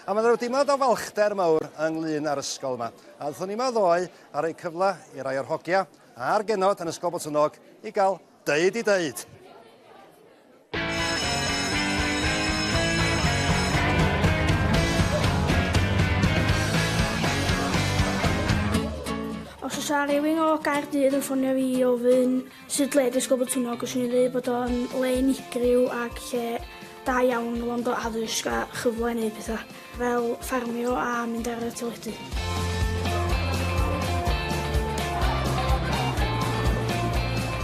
A mae 'na ryw deimlad o falchder mawr ynglŷn â'r ysgol yma. A aethon ni yma ddoe a rhoi cyfle i rai o'r hogia a'r genod yn Ysgol Botwnnog i gael deud i deud. Os oes 'na rywun o Gaerdydd yn ffonio fi i ofyn Sut le dysg o Botwnnog? Fyswn i'n dweud bod o'n le unigryw ac lle da iawn o wrando addysg a chyfle i wneud pethau, fel ffarmio a mynd ar y teledu.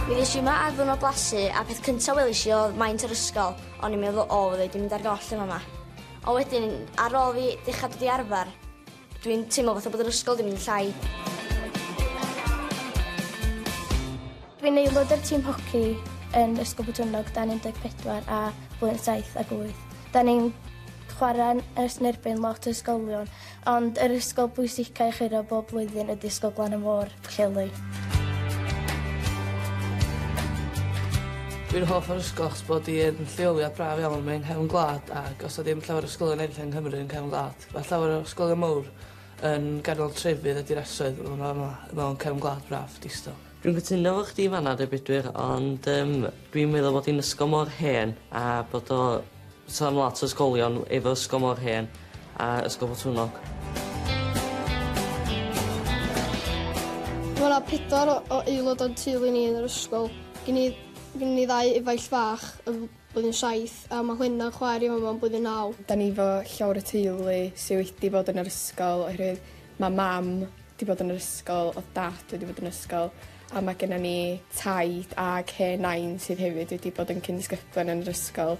Mi ddes i yma ar ddiwrnod blasu a peth cyntaf welis i oedd maint yr ysgol, o'n i'n meddwl o fydda i 'di mynd ar goll yn fama. Ond wedyn, ar ôl fi dechrau dod i arfer, Dwi'n teimlo fatha bod yr ysgol 'di mynd yn llai. Dwi'n aelod o'r tîm hoci yn Ysgol Botwnnog dan 14 a blwyddyn 7 ac 8. Da ni'n chwarae ers yn erbyn lot o ysgolion, ond yr ysgol bwysicaf i chwiro bob blwyddyn ydy Ysgol Glan y Môr, Pwllheli. Dwi'n hoff o'r ysgol achos bod hi yn lleoliad braf iawn, mae'n nghefn gwlad ac os na ddim llawer o ysgolion eraill yng Nghymru yn cefn gwlad. Mae llawer o ysgolion mawr yn ganol trefydd a dinasoedd fel ma' ma' mewn cefn gwlad braf, distaw. Dwi'n cytuno efo chdi fan 'na 'de Bedwyr ond yym dwi'n meddwl bod hi'n ysgol mor hen a bod o so am lot o ysgolion efo ysgol mor hen a Ysgol Botwnnog. Ma' 'na pedwar o o aelod o'n teulu ni yn yr ysgol. Gin i gin i ddau efaill fach yym Blwyddyn saith, a ma Gwenna'n chwaer i fama yn blwyddyn naw. Da ni fo llawr y teulu sy wedi bod yn yr ysgol oherwydd ma mam di bod yn yr ysgol odd dad wedi bod yn ysgol a ma gennon ni taid ag hen nain sydd hefyd wedi bod yn cyn-ddisgyblion yn yr ysgol.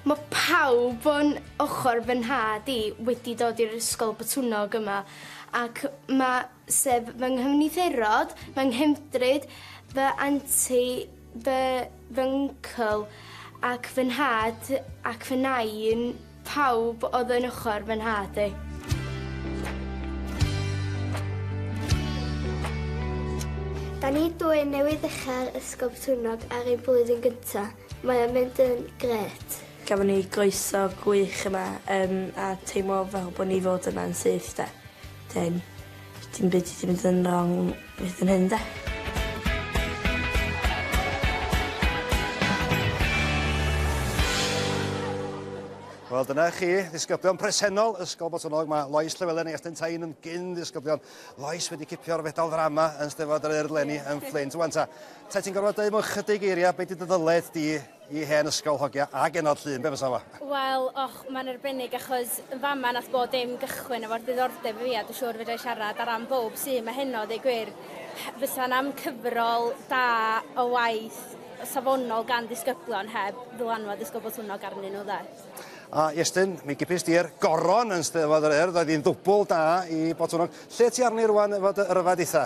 Ma pawb o'n ochor fy nhad i wedi dod i'r ysgol Botwnnog yma ac ma sef fy nghymddiferod, fy nghefndryd, fy anti, fy fyncl ac fy nhad ac fy nain, pawb oedd yn ochr fy nhad i. Da ni dwy newydd ddechrau'r Ysgol Botwnnog ar ein blwyddyn gyntaf. Mae o'n mynd yn gret. Gafon ni groeso gwych yma um, a teimlo fel bod ni fod yma'n syth de. Dim. Dim byd sy 'di mynd yn rong hyd yn hyn 'de? Wel dyna chi, ddisgyblion presennol Ysgol Botonog. Mae Lois Llewellyn a Iestyn Tain yn gyn ddisgyblion. Lois wedi cipio'r fedal ddrama yn Steddfod yr Urdd Lenny yn Fflint. Wan ta, ta ti'n gorfod dweud mewn chydig eiriau beth ydy dy ddyled di Y hen ysgol hogia a genod llun, be fysa fo? Wel, och, mae'n arbennig achos yn fama nath bod dim gychwyn efo'r diddordeb i fi a dwi'n siŵr fedra i siarad ar ran bowb sy 'ma heno a deud gwir, fysa 'na'm cyfrol da o waith safonol gan ddisgyblion heb ddylanwad Ysgol Botwnnog arnyn nhw, 'de? A Iestyn, mi gipist di'r goron yn Steddfod yr Urdd, oedd hi'n ddwbl da i Botwnnog. Lle ti arni rŵan efo dy ryfed eitha?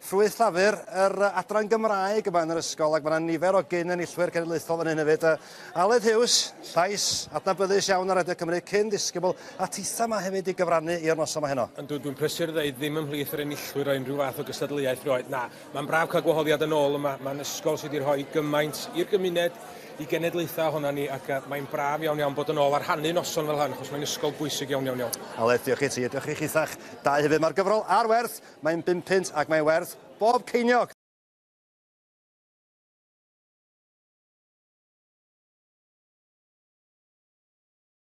Ffrwyth Llafur, yr adran Gymraeg yma yn yr ysgol, ac mae yna nifer o gyn-enillwyr cenedlaethol fan hyn hefyd. Aled Hughes, llais adnabyddus iawn ar Radio Cymru, cyn ddisgybl a titha yma hefyd i gyfrannu i'r noson yma heno. Yndw, dwi'n prysur ddeud, ddim ymhlith yr enillwyr o unrhyw fath o gystadleuaeth rioed, na. Mae'n braf cael gwahoddiad yn ôl yma, mae'n ysgol sydd wedi rhoi gymaint i'r gymuned, i genedlaethau ohona ni, ac mae'n braf iawn iawn bod yn ôl a rhannu noson fel hyn, achos mae'n ysgol bwysig iawn iawn iawn. Aled, diolch i ti, a diolch i chitha'ch dau hefyd. Mae'r gyfrol ar werth Mae'n bum punt ac mae werth bob ceiniog!